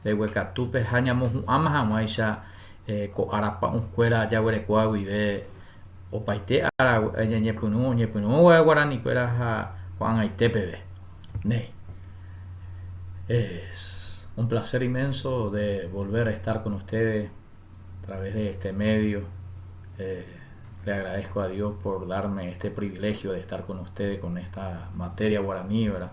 mbeguekatu pe ha ñamohu'ãma hag̃uáicha ko ára pa'ũ kuéra jaguerekoa guive opaite ára ñañepyrũ oñepyrũ guave guarani kuéra ha ko'ag̃aite peve néi es un placer inmenso de volver a estar con ustedes a través de este medio eh, Le agradezco a Dios por darme este privilegio de estar con ustedes con esta materia guaraní, ¿verdad?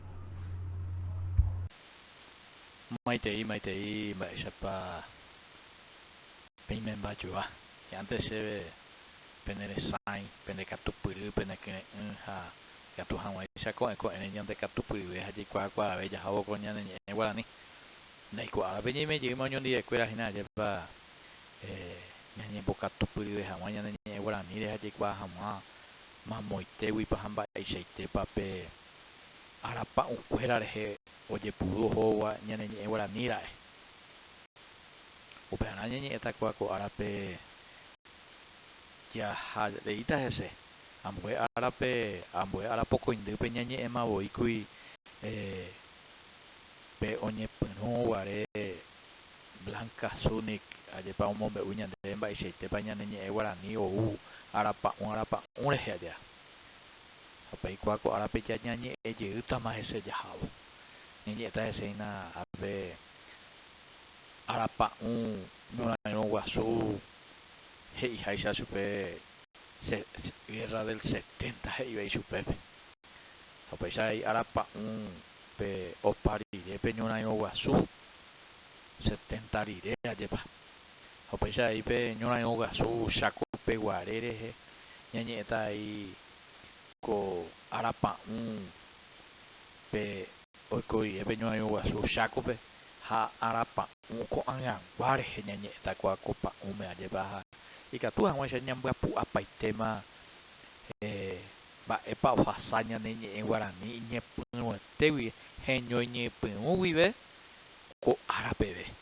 Maitei, maitei, mba'éichapa peimémba joa. Che ántes chéve pene resãi, pende katupyry, pene kyre'ỹ ha ikatu hag̃uáicha ko'ẽ ko'ẽre ñande katupyryve ha jaikuaa kuaave jahávo ko ñane ñe'ẽ guarani. Ndaiko árape ñaime jeýma oñondive kuéra hína ajépa ñañembokatupyryve hag̃ua ñane ñe'ẽ guaraníre ha jaikuaa hag̃ua mamoitéguipa ha mba'eichaitépa pe arapa'ũkuéra rehe ojepuru ohóva ñane ñe'ẽ guarani ra'e. Upearã ñañe'ẽta kua ko árape jaha reíta hese, ambue árape, ambue ára pokõindýpe ñañe'ẽma voíkuri pe oñepyrũ guare Blanca Zunic ajépa omombe'u ñande mba'eichaitépa ñane ñe'ẽ guarani ou arapa'ũ arapa'ũ rehe aja. Ha peikuaa ko árape ja ñañe'ẽ jeýtama hese jahávo. Ñañe'ẽta hese hína pe arapa'ũ ñorairõ guasu he'iháicha chupe Guerra del 70 he'íva ichupépe. Ha upéicha he'i arapa'ũ pe opa rire pe ñorairõ guasu 70 rire ajépa. ha upéicha avei pe ñorairõ guasu Chákope guare rehe ñañe'ẽta avei ko ára pa'ũ pe oiko rire pe ñorairõ guasu Chákope ha ára pa'ũ ko'ag̃agua rehe ñañe'ẽta kóa ko pa'ũme ajépa ha ikatu hag̃uáicha ñambyapu'apaitéma mba'épa ohasa ñane ñe'ẽ guarani iñepyrũete guive heñoiñypyrũ guive ko ára peve.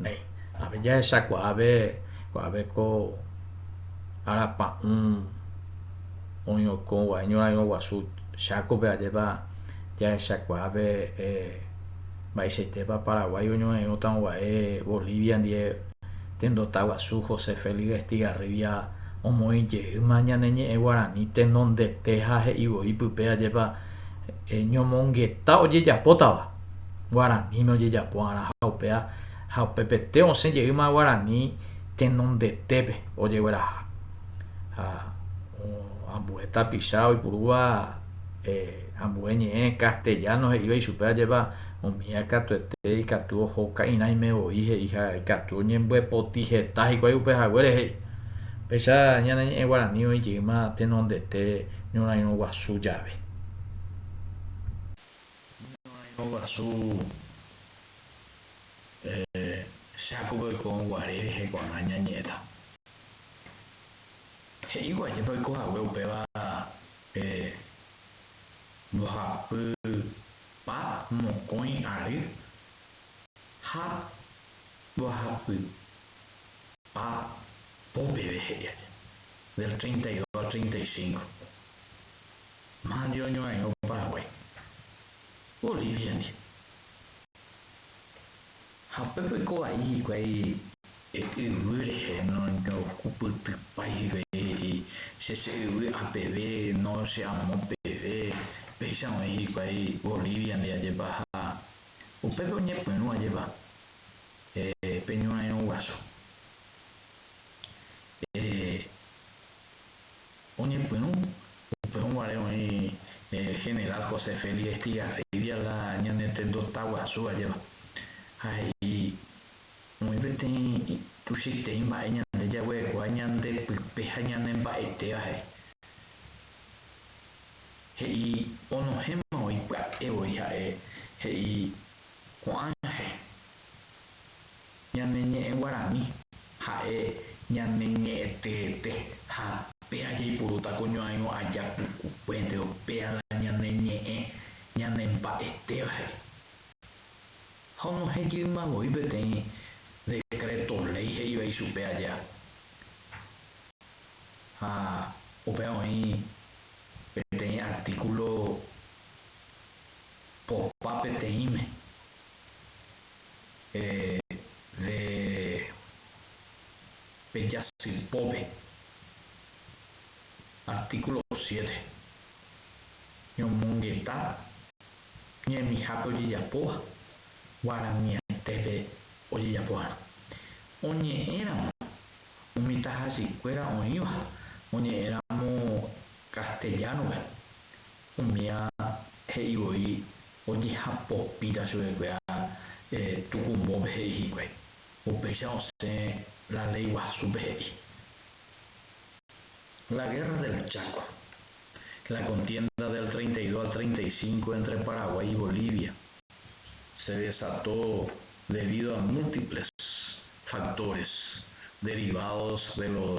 Néi, ave jahechakuaáve kuaáve ko ára pa'ũ oĩokõgua iñorãirõguasu Chácope ajépa jahechakuaáve eh, mba'eichaitépa Paraguái oñorairõtaguãva'e Bolivia ndie tendotaguasu José Félix Estigarribia omoĩjeýma ñane ñe'ẽ guarani tenondete ha he'ivoi pype ajépa eh, ñomongeta ojejapótava guaraníme ojejapo'arã ha upea ha upepete osẽ jeýma guarani tenondetépe ojegueraha ha ambue tapicha oipurúva ambue ñe'ẽ castellano he'íva ichupe ajépa umíva katuete ikatu oho ka'irãime voi he'i ha ikatu oñembopoti heta hikuái upe haguére he'i péicha ñane ñe'ẽ guarani oĩ jeýma tenondete ñorairõ guasu jave Ñorairõ guasu Jacob oiko guare rehe ko'ág̃a ñañe'ẽta. He'ívo ajépa oiko hague upéva pe mbohapypa mokõi ary ha mbohapypa po peve he'i ajépa, del treinta y dos al treinta y cinco. Mávandi oñorairõ Paraguái, Bolíviandi. Ha upépe oiko vai hikuái yvy rehe, ndohupytypái hikuái he'i, Che che yvy apeve, no che amo peve. Upéicha oĩ hikuái Bolíviandi ajépa ha upépe oñepyrũ ajépa pe ñorairõ guasu. Oñepyrũ upe oguare oĩ General José Félix Estigarribia la ñane tendo taguasu ajéva, ha he'i, Oĩ peteĩ tuichaiterei mba'e ñande jaguerekóva ñande pype ha ñane mba'etéva he'i. He'i onohẽma voi pya'e voi ha'e he'i ko'ãhe Ñane ñe'ẽ guarani, ha'e ñane ñe'ẽ teete, ha péa jaipurúta ko ñoairõ aja pukukuénteo, péa la ñane ñe'ẽ ñane mba'etéva he'i. Ha onohejýma voi peteĩ decreto ley he'iva ichupe aja. Ha upéva oĩ peteĩ artículo popa peteĩme. de pe jasýpópe, artíkulo siete, ñomongeta ñemihápe ojejapóva guaraniaitépe ojejapoharã. Oñe'ẽramo umi tahajykuéra oĩva oñe'ẽramo castellano-pe, Umía he'i voi ojehapopíta chupekuéra tukumbópe he'i hikuái, upéicha osẽ la léi guasúpe he'i. La Guerra del Chaco, la contienda del treinta y dos al treinta y cinco entre Paraguay y Bolivia, se desató debido a múltiples factores derivados de los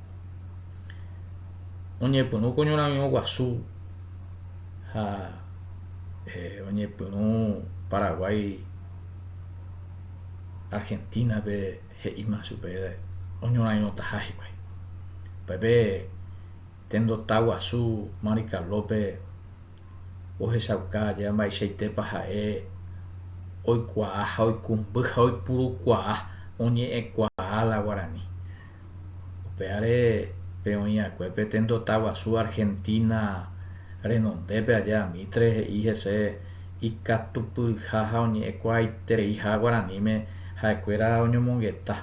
oñepyrũ ko ñorarirõ guasu ha oñepyrũ Paraguái Argentina-pe he'íma chupe oñorarirõtaha hikuái. Upépe tendota guasu Marikalópe ohechauka ajéva mba'eichaitépa ha'e oikuaa ha oikumby ha oipurukuaa oñe'ẽkuaa la guarani. Upévare pe oĩakue pe tendota guasu Argentina renondépe aja Mitre he'i hese ikatupyryha ha oñe'ẽkuaaitereiha guaraníme ha'ekuéra oñomongeta.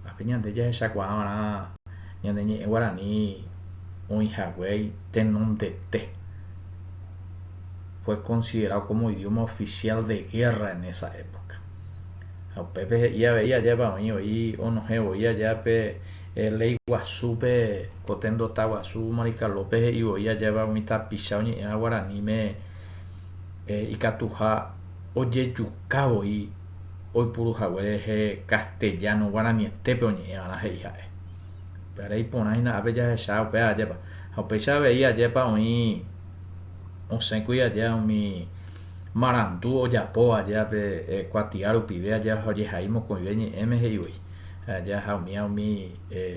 Ápe ñande jahechakuaa va'erã ñane ñe'ẽ guarani oĩhaguéi tenondete fue considerado como idioma oficial de guerra en esa época. Ha upépe he'i avei ajépa oĩ voi onohẽ voi aja pe ley guasúpe, ko tendota guasu Maricalópe he'i voi ajépa umi tapicha oñe'ẽva guaraníme ikatuha ojejuka voi oipuru hague rehe castellano guaranietépe oñe'ẽvarã he'i ha'e. Pya'ere iporã hína ápe jahecha upéva ajépa. Ha upéicha avei ajépa oĩ osẽkuri aja umi marandu ojapo aja pe kuatia rupive aja ojehai mokõive ñe'ẽme he'i voi aja ha umía umi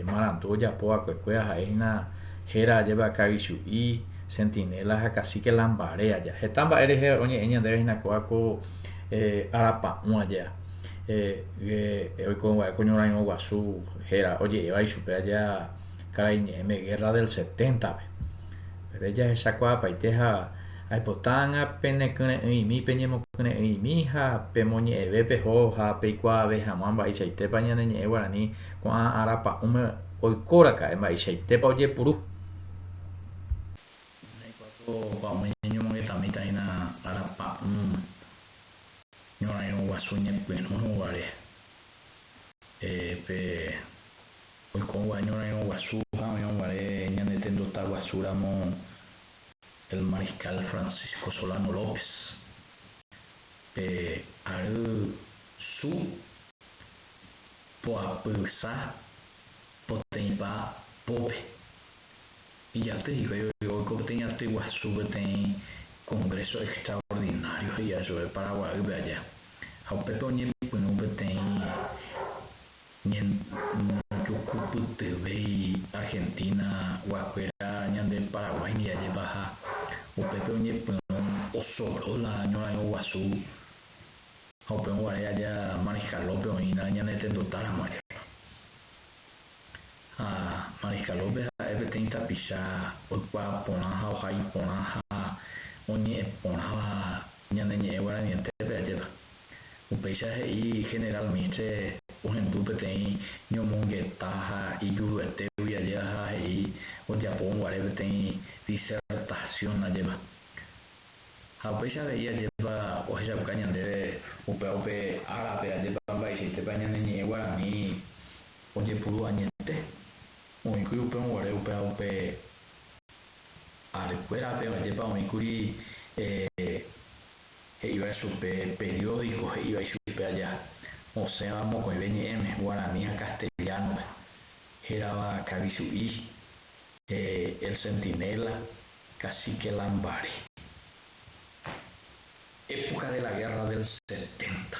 marandu ojapo vakuekue aha'e hína héra ajeve akagichu'i sentinéla ha kasíke lambare aja heta mba'e rehe oñe'ẽ ñandéve hína kóva ko arapa'ũ aja oiko va'e ko ñorãirõ guasu héra oje'éva ichupe aja karai ñe'ẽme guerra del seténtape pépe jahechakuaapaite ha Aipota ág̃a penekyre'ỹimi peñemokyre'ỹimi ha pemoñe'ẽve peho ha peikuaave hag̃ua mba'eichaitépa ñane ñe'ẽ guarani ko'ã ára pa'ũme oikóraka'e mba'eichaitépa ojepuru. Umi naikuaa ko pa'ũme ñañomongetãmíta hína ára pa'ũ ñorairõ guasu ñepyrũ guare. Pe oikõva ñorairõ guasu ha oĩrõ guare ñane tendota guasu ramo el Mariscal Francisco Solano López, pe ary su poapyhysa poteĩpa pópe. Ijaty hikuái oiko peteĩ aty guasu peteĩ Congreso Extraordinario he'iva chupe Paraguaýpe aja, ha upépe oñepyrũ peteĩ ñañepukupytyvéi Argentina guakuéra ñande Paraguái ndive ajepaha upépe oñepyrũ osoro la ñorairõ guasu ha upéva guare aja Mariscalópe oĩna ñane tenduta ramo ajépa ha Mariscalópe ha'e peteĩ tapicha oikuaa porã ha oha iporã ha oñe'ẽ porãva ñane ñe'ẽ guaranientépe ajépa. Upéicha he'i General Mistre ohendu peteĩ ñomongeta ha ijuruetégui ajéva ha he'i ojapo guare peteĩ disertación ajéva. Ha upéicha avei ajépa ohechauka ñandéve upéva upe árape ajépa mba'eichaitépa ñane ñe'ẽ guarani ojepuru añete oĩkuri upérõ guare upéva upe ary kuérape ajépa oĩkuri he'íva chupe periódico he'íva ichupe aja, osẽva mokõive ñe'ẽme, guarani ha castellano-pe, hérava Kavi Chu'i, El Centinela, Cacique Lambaré. Época de la guerra del setenta,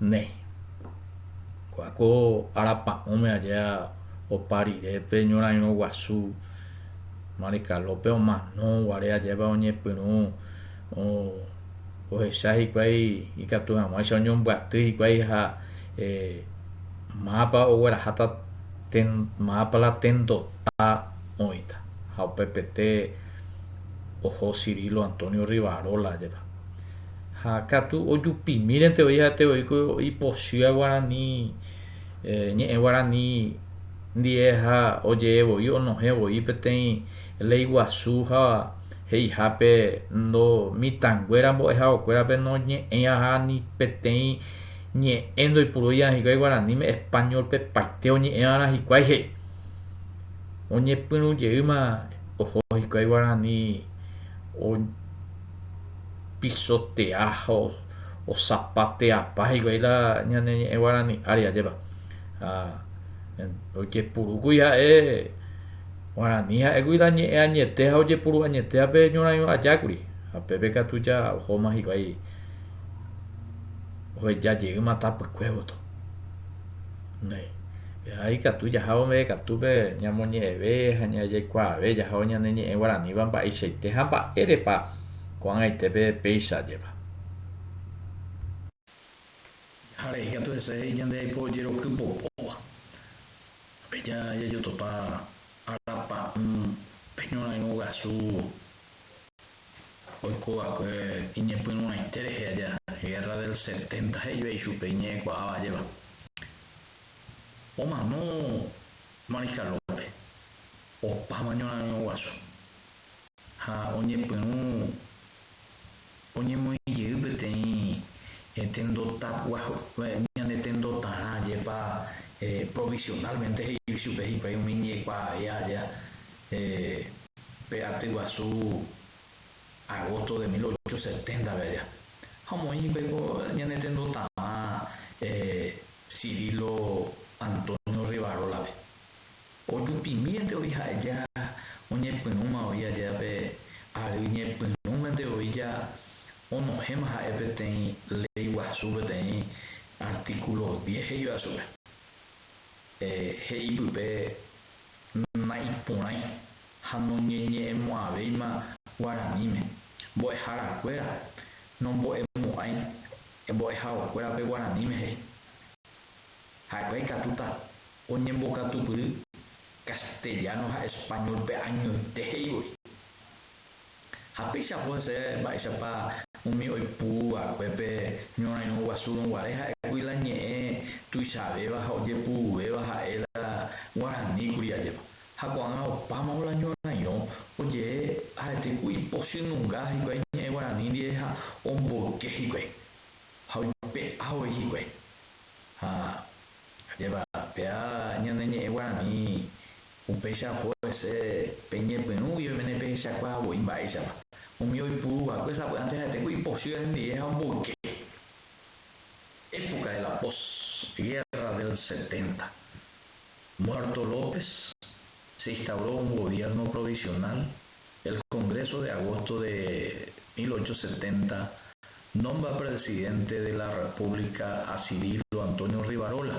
néi. Ko'ã ko ára pa'ũme aja opa rire pe ñorairõ guasu Maricalópe omano guare ajépa oñepyrũ ohecha hikuái ikatu hag̃uáicha oñombyaty hikuái ha mápa ogueraháta mápa la tendota oĩta ha upepete oho Cirilo Antonio Rivarola jepa ha katu ojupimírente voi ha'ete voi ko ipochýa guarani ñe'ẽ guarani ndie ha ojee voi onohẽ voi peteĩ lei guasu ha he'ihápe ndo mitãnguéra mbo'ehaokuérape noñe'ẽiaha ni peteĩ ñe'ẽ ndoipuruiaha hikuái guaraníme españolpe paite oñe'ẽva'erã hikuái he'i oñepyrũjeýma oho hikuái guarani o pisotea ha osapateapáigui la ñane ñe'ẽ guarani ári ajépa. Ha ojepurúkuri ha'e guarani ha'égui la ñe'ẽ añete ha ojepuru añetéva pe ñorãirõ ajákuri. Ha pépe katu ja ohóma hikuái oheja jeýma tapykue gotyo. Néi. Eha ikatu jahávo meve katúpe ñamoñe'ẽve ha ñajaikuaave jahávo ñane ñe'ẽ guaraníva mba'eichaite ha mba'érepa ko'ag̃aitépe péicha ajépa. Jaháre ikatu hese he'i ñande jaiko ojeroky popóva. Péicha jajotopa arapa'ỹ pe ñorairõ guasu. oikova'ekue iñepyrũrãite rehe aja, Guerra del Setenta he'íva ichupe iñe'ẽkuaáva ajéva, omano Marikalópe opáma ñorarirõ guasu ha oñepyrũ oñemoĩ jey peteĩ tendotapua ñande tendotarã jepa provisionalmente he'i chupe hikuái umi iñe'ẽkuaavea aja. pe aty guasu agosto de mil ocho seténtape aja, ha omoĩ hikuái ko ñane tendo tavã Cirilo Antonio Rivarólape. Ojupimírente voi ha'eja oñepyrũma voi aja pe ary ñepyrũmante voi ja onohẽma ha'e peteĩ ley guasu peteĩ artículo diez he'íva chupe he'i pype naiporãi ha noñeñe'ẽmo'ãvéima guaraníme, mbo'eharakuéra nombo'emo'ãi mbo'ehaokuérape guaraníme he'i. Ha'ekuéra ikatúta oñembokatupyry castellano ha español-pe añoite he'ivoi. Ha peichapo hese mba'éichapa umi oipu vakuépe ñorãirõ guasúrõ guare ha'ekuri la ñe'ẽ tuichavéva ha ojepu'uvéva ha'e la guarani kuri ajépa. Ha ko'ág̃a opámavo la ñorãirõ ojee arete ku ipochy nunga hikuái ñe'ẽ guarani ndive ha omboyke hikuái ha oipe'a voi hikuái. Ha ajépa, péa ñane ñe'ẽ guarani Upéicha oho hese pe ñepyrũ guive mene pehechakuaa voi mba'éichapa. Umi oipuru va'ekue sapy'ánte ha'etéko ipochýva hendive ha omboyke. Época de la post guerra del setenta. Muerto López, se instauró un gobierno provisional, el Congreso de agosto de 1870 nombra presidente de la República a Cirilo Antonio Rivarola.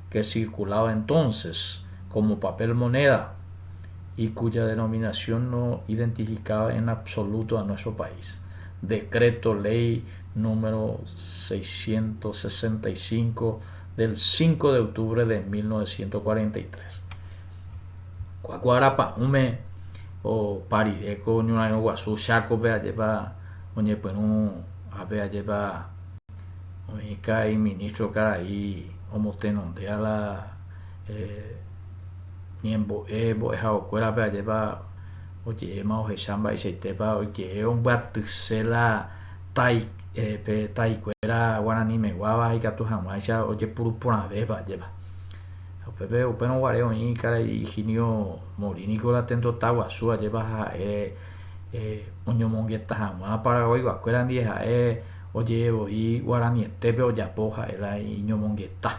que circulaba entonces como papel moneda y cuya denominación no identificaba en absoluto a nuestro país, Decreto Ley No. 665 del 5 de octubre de 1943. Kuáku arapa'ũme opa rire ko ñorairõguasu Chácope ajépa oñepyrũ ápe ajépa oĩka iministro karai omotenondéva la ñembo'e mbo'ehaokuérape ajépa oje'éma ohecha mba'eichaitépa oje'e ombyatyse la tai pe taikuéra guaranimeguáva ikatu hag̃uáicha ojepuruporãvéva ajépa upépe upérõ guare oĩ karai Higinio Morínico la tendotaguasu ajépa ha'e oñomongeta hag̃ua paraguaiguakuéra ndie ha'e Oje'e voi guaranietépe ojapo ha'e la iñomongeta,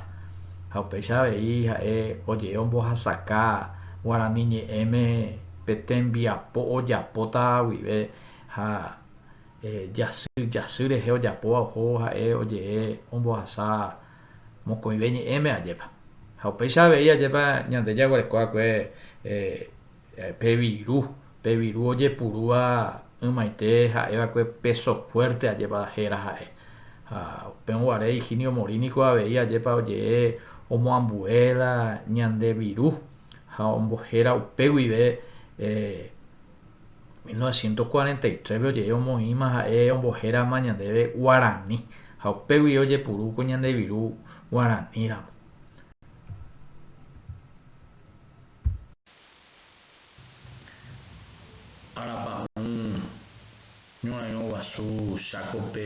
ha upéicha avei ha'e oje'e ombohasaka guarani ñe'ẽme pe tembiapo ojapóta guive ha jasy jasy rehe ojapóva oho ha'e oje'e ombohasa mokõive ñe'ẽme ajépa. Ha upéicha avei ajépa ñande jaguereko va'ekue. Pe viru, pe viru ojepurúva ymaite ha'eva'ekue péso fuerte ajépa héra ha'e. Ha upérõ guare Higinio Morín niko avei ajépa oje'e omoambue la ñande viru ha ombohéra upe guive 1943-pe oje'e omoĩma ha'e ombohérama ñandéve guarani ha upe guive ojepuru ko ñande viru guaraníramo. Arapa'ũ ñorairõ guasu chákope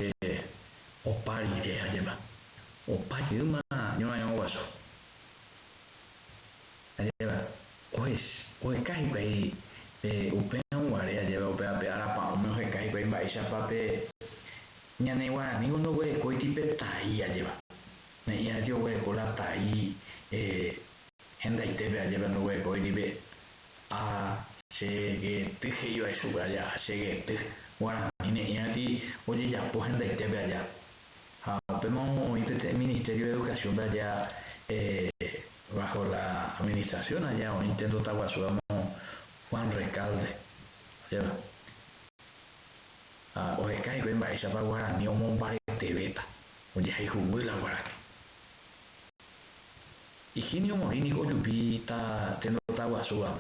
opa rire ha jepa. Opa yma ñorairõ guasu ha jepa oheka hikuái upérõ guare ha jepa upévape arapa'ũme oheka hikuái mba'éichapa pe ñane guaranígui ndoguerekóiti pe tai ha jepa. Ne'ĩha rete oguereko la tai. Hendaitépe ajépa ndoguerekói ndive. Ha che gety he'i vai chupe aja, ha che gety. Guarani ne'i ati ojejapo hendaitépe aja. Ha upéma oĩ peteĩ Ministerio de Educación aja bajo la administración aja oĩ intento taguasu amo Juan Recalde ndéva. Ha oheka hikuái mba'éichapa guarani omombaretevéta, ojehayhuguy la guarani. Higinio omoĩ niko ojupi ta tendota guasúva,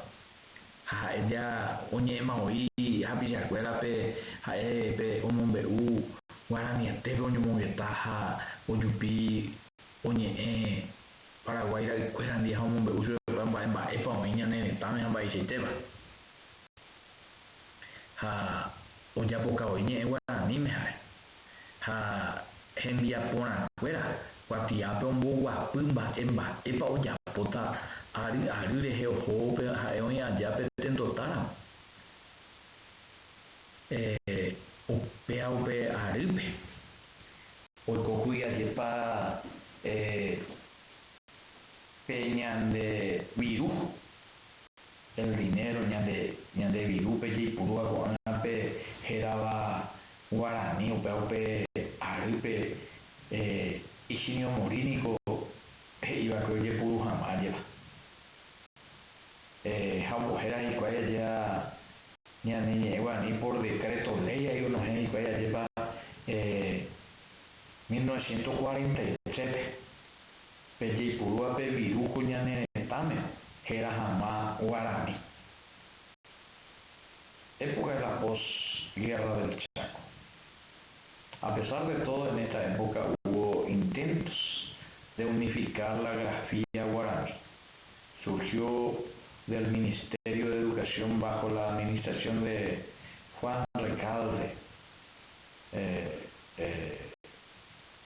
ha ha'e ja oñe'ẽma voi hapichakuérape ha'e pe omombe'u guaraniatépe oñomongeta ha ojupi oñe'ẽ Paraguái ra'ykuérandi ha omombe'u chupekuéra mba'e mba'épa oĩ ñane retãme ha mba'eichaitéva, ha ojapokavoi ñe'ẽ guaraníme ha'e. ha hembiaporãkuéra kuatiápe omboguapy mba'e mba'épa ojapóta ary ary rehe oho upe ha'e oĩ aja pe tento táramo, upéva upe arýpe oikókuri ajépa pe ñande viru El dinero ñande ñande virúpe jaipurúva ko'ág̃a pe hérava guarani upéva upe arýpe ichimiomori niko he'iva'ekue ojepuru hag̃ua ajéva ha ombohéra hikuái ajéva ñane ñe'ẽ guarani por decreto ley ha onohẽ hikuái ajépa mil novecientos cuarenta y tres-pe. Pe jaipurúva pe viruku ñane retãme héra hag̃ua guarani. Época de la pos guerra del Chaco. A pesar de todo en esta época hubo intentos de unificar la grafía guaraní. Surgió del Ministerio de Educación bajo la administración de Juan Recalde, eh, eh,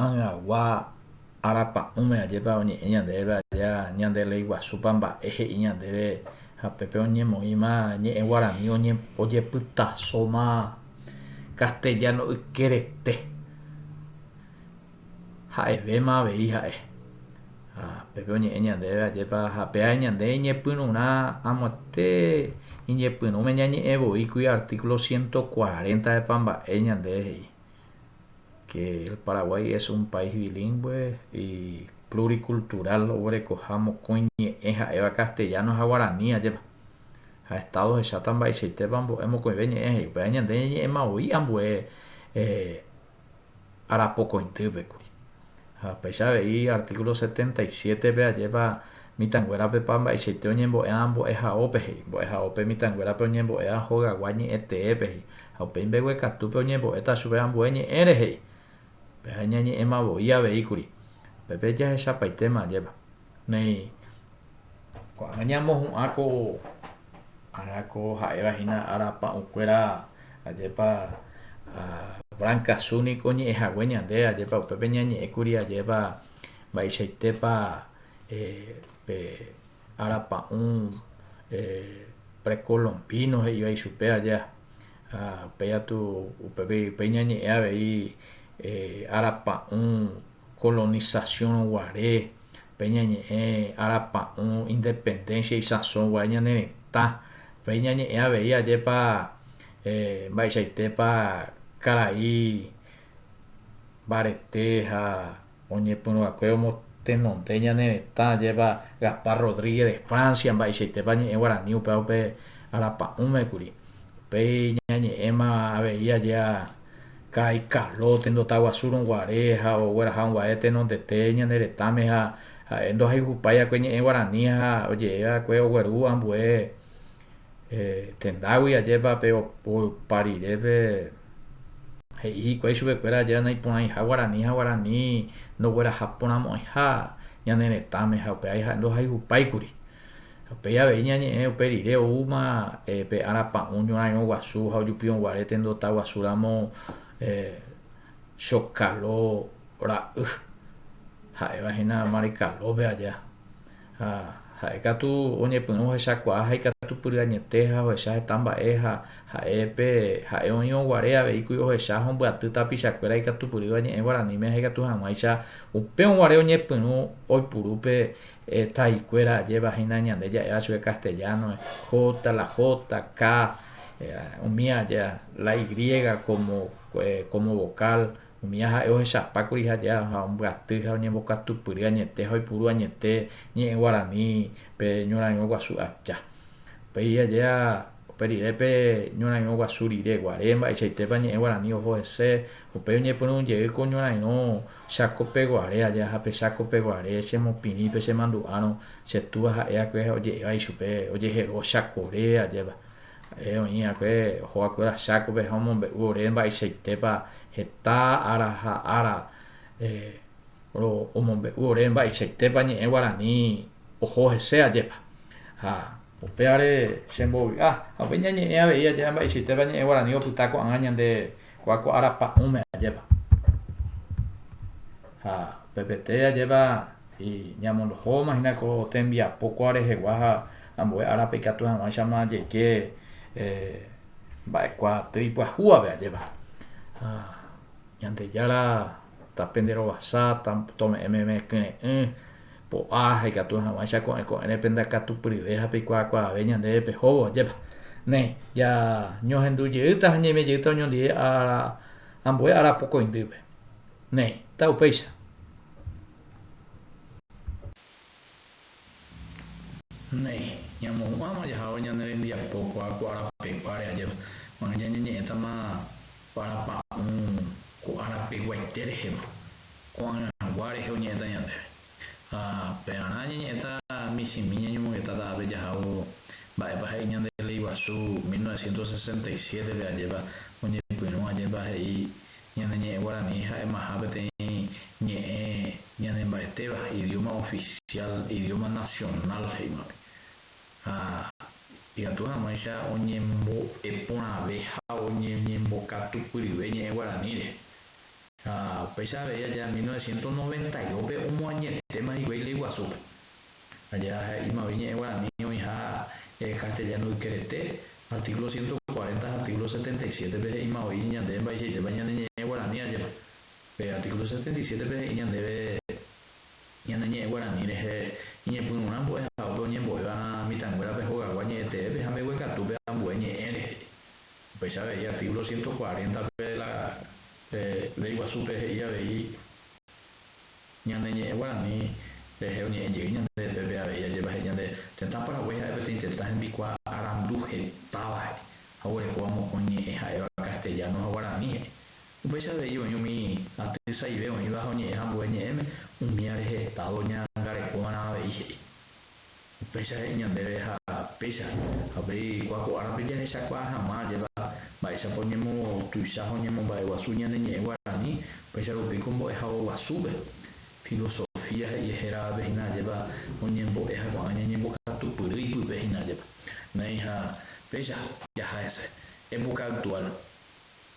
Angagua arapa'ũme ajépa oñe'ẽ ñandéve aja ñande ley guasúpa mba'e he'i ñandéve ha pépe oñemoĩma ñe'ẽ guarani ojepytasóma castellano ykerete ha'evéma avei ha'e ha pépe oñe'ẽ ñandéve ajépa ha péa ñande iñepyrũrã amoite iñepyrũme ñañe'ẽ voi kui artículo ciento cuarenta epa mba'e ñande he'i que el Paraguay es un país bilingüe y pluricultural oguerekoha mokõi ñe'ẽ ha'éva castellano ha guarani ajépa. Ha Estado ohecháta mba'eichaitépa mbo'e mokõive ñe'ẽ he'i upéva ñande ñe'ẽma voi ambue arapokõitýpe kuri. Ha upéicha avei artíkulo setenta y siétepe ajépa mitãnguérapepa mba'eichaite oñembo'éva mbo'ehaópe he'i, mbo'ehaópe mitãnguérape oñembo'éva hogagua ñe'ẽteépe he'i, ha upéi mbeguekatúpe oñembo'éta chupe ambue ñe'ẽre he'i. Péva iñañe'ẽma voi aveíkuri. Upépe jahechapaitéma ajépa. Néi, ko'ág̃a ñamohu'ã ko ára ko ha'éva hína ára pa'ũkuéra, ajépa Brankasu niko oñe'ẽ hague ñande, ajépa upépe ñañe'ẽ kuri ajépa mba'eichaitépa pe ára pa'ũ prekolombino he'iva ichupe aja. Ha upéi katu, upéi ñañe'ẽ avei ára pa'ũ kolonisasion guare, pe ñañe'ẽ arapa'õ independencia isãso guare ñane retã, pe ñañe'ẽ avei ajépa mba'eichaitépa karai mbarete ha oñepyrũakue omotenonde ñane retã ajépa Gaspar Rodríguez de Francia mba'eichaitépa ñe'ẽ guarani upéva upe arapa'ũme kuri, upéi ñañe'ẽma avei ajéa Ka'ay Carlo, tenondota guasúrõ guare ha ogueraha unguae tenondete ñane retãme ha ha'e ndohayhupái akue ñe'ẽ guarani ha oje'e akue ogueru ambue tendágui ajépa pe opa rire pe he'i hikuái chupekuéra ajépa naiporãiha guarani ha guarani ndogueraha porãmo'ãiha ñane retãme ha upévai ha'e ndohayhupáikuri Ha upéi avei ñañe'ẽ upe rire oúma pe ára pa'ũ ñorãirõ guasu ha ojupi'õ guare tendota guasu ramo Chokalo ra'y, ha'éva hína Marikalópe aja. Ha ha'e katu oñepyrũ ohechakuaa ha ikatupyry añete ha ohecha heta mba'e ha ha'e pe ha'e oĩrõ guare avei kuri ohecha ha ombyaty tapicha kuéra ikatupyrýva ñe'ẽ guaraníme ha ikatu hag̃uáicha upérõ guare oñepyrũ oipuru pe Taikuéra ajéva hína ñande ja'éva chupe castellano-pe, J, la J, K, umi aja la Y como vocal, umíva ha'e ohechapákuri ha aja ha ombyaty ha oñembokatupyry añete ha oipuru añete ñe'ẽ guaranípe ñorairõ guasu aja. Upéi aja upe rire pe ñorairõ guasu rire guare mba'eichaitépa ñe'ẽ guarani oho hese, upéi oñepyrũ jey ko ñorairõ Cháko peguare aja ha pe cháko peguare chemopirĩ pe chemandu'árõ, che túa ha'e akue oje'éva ichupe ojehero chakore ajépa. Ha'e oĩ akue oho vakuéra chákope ha omombe'u ore mba'eichaitépa heta ára ha ára omombe'u ore mba'eichaitépa ñe'ẽ guarani oho hese ajépa. Ha upévare chembovy'a ha upéi ñañe'ẽ avei ajépa mba'eichaitépa ñe'ẽ guarani opyta ko'ag̃a ñande Kua ko ára pa'ũme ajépa. Ha pe peteĩ ajépa y ñamondohóma hína ko tembiapo kua rehegua ha ambue árape ikatu hag̃uáichama jeike mba'e kua tei pyahu ave ajépa. Ha Ñandejára. ta pende rovasa, ta tome'ẽ meme kyre'ỹ, po'a ha ikatu hag̃uáicha ko'ẽ ko'ẽre pende akatupyryve ha peikuaakuaave ñandéve pehóvo, ajépa. Néi, ja ñohendu jeýta ha ñaime jeýta oñondive ára ambue ára pokõindýpe. Néi, ta upéicha. Néi, ñamohu'ãma jahávo ñane rembiapo kuakuaa rapeguáre ajépa, ma'ẽ ñañeñe'ẽtama parapa'ũ ko arapeguaite rehema, ko'ã rãgua rehe oñe'ẽta ñandéve. Ha pearã ñañe'ẽta michĩmi ñañomongeta ta'ápe jahávo mba'épa he'i ñande Ley Guasu mil novecientos sesenta y siete-pe ajépa oñepyrũ ajépa he'i Ñane ñe'ẽ guarani ha'emaha peteĩ ñe'ẽ ñanemba'etéva, idióma ofisiál, idióma nasionál he'ívape. Ha ikatu hag̃uáicha oñembo'e porãve ha oñembokatu pyrive ñe'ẽ guaraníre. Ha upéicha avei aja mil novecientos noventa y dos-pe omoañetéma hikuái ley guasúpe. Aja he'ímagui ñe'ẽ guarani oĩha castellano yke rete, artículo ciento cuarenta ha artículo setenta y siete-pe he'ímavoi ñande mba'eichaitépa ñane ñe'ẽ guarani ajépa. Pe artículo setenta y siete-pe he'i ñandéve ñane ñe'ẽ guarani rehe iñepyrũrã mbo'e ha ópe oñembo'éva mitãnguérape hogagua ñe'ẽteépe ha mbeguekatúpe ambue ñe'ẽ rehe. Upéicha avei artículo ciento cuarenta-pe la Ley Guasúpe he'i avei, Ñane ñe'ẽ guarani rehe oñe'ẽ jey ñande upépe avei ajépa he'i ñande, Tetã Paraguái ha'e peteĩ tetã hembikuaa arandu hetáva he'i ha oguerekóva mokõi ñe'ẽ ha'éva castellano ha guarani he'i. Upéicha avei oĩ umi aty saive oĩva ha oñe'ẽha ambue ñe'ẽme, umíva rehe Estado ñaangarekóvarã avei he'i. Upéicha he'i ñandéve ha péicha, ha upéi kua ko árape jahechakuaa hag̃ua ajépa mba'éichapa oñemotuicha ha oñemomba'eguasu ñane ñe'ẽ guarani, upéicha rupi ko mbo'ehague guasúpe. Filosofía he'ie héravape hína ajépa oñembo'e ha ko'ã ñañembokatupyry ipype hína ajépa. Néi ha péicha, jaha hese. Época actual.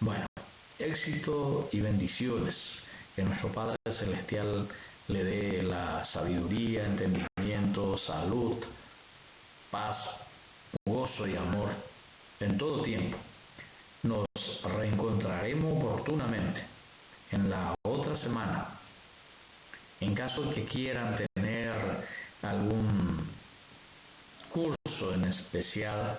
Bueno, éxito y bendiciones, que nuestro Padre Celestial le dé la sabiduría, entendimiento, salud, paz, gozo y amor en todo tiempo, nos reencontraremo oportunamente en la otra semana, en caso que quieran tener algún curso en especial